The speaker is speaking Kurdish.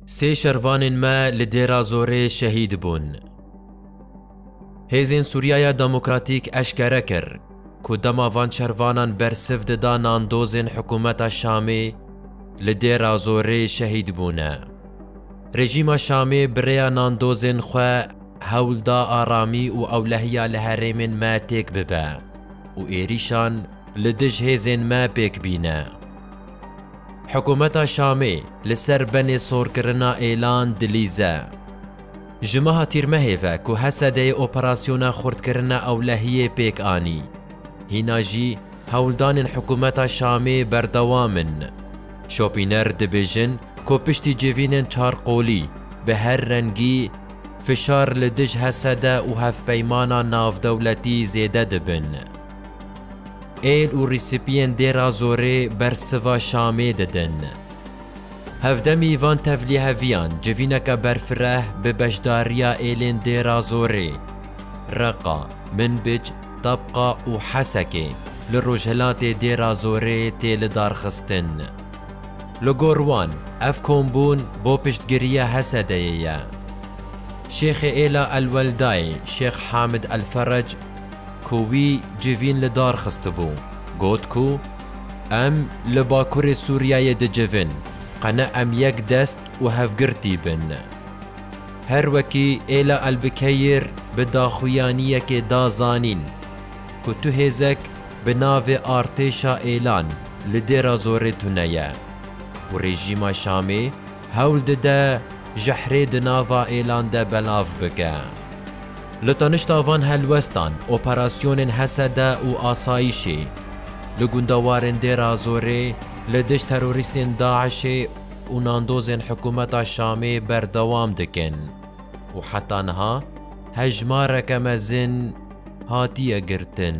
Sê şervanên me li Dêra Zorê şehîd bûn. Hêzên Sûriyaya Demokratîk eşkere kir ku dema van şervanan bersiv dida nandozên hikûmeta Şamê li Dêra Zorê şehîd bûne. Rejîma Şamê bi rêya nandozên xwe hewl da aramî û ewlehiya li herêmên me têk bibe û êrîşan li dij hêzên me pêk bîne. Hikûmeta Şamê li ser benê sorkirina êlan dilîze. Ji meha Tîrmehê ve ku Hesedeyê operasyona xurtkirina ewlehiyê pêk anî, hîna jî hewldanên hikûmeta Şamê berdewam in. Şopîner dibêjin ku piştî civînên çar qolî bi her rengî, fişar li dij Hesede û hevpeymana navdewletî zêde dibin. Êl û rîsipiyên Dêra Zorê bersiva Şamê didin. Hevdemî van tevlîheviyan civîneke berfireh bi beşdariya êlên Dêra Zorê, Reqa, Minbic, Tabqa û Hesekê li rojhilatê Dêra Zorê tê lidarxistin. Li gor wan ev kombûn bo piştgiriya Hesedeyê ye. Şêxê êla El Weldayê Şêx Hamid El Ferec, ku wî civîn li dar xistibû, got ku Em li Bakurê Sûriyeyê dicivin, qene em yek dest û hevgirtî bin. Her wekî Êla Elbikeyir bi daxuyaniyekê da zanîn ku tu hêzek bi navê Artêşa Êlan li Dêrazorê tune ye û rejîma Şamê, Hewl dide jehrê di nava êlan de belav bike. Li tanişta van helwestan, operasyonên Hesede û Asayîşê, li gunda warên Dêrazorê li dij terorîstên DAIŞ'ê û nandozên hikûmeta Şamê berdewam dikin û heta niha hejmareke mezin hatiye girtin.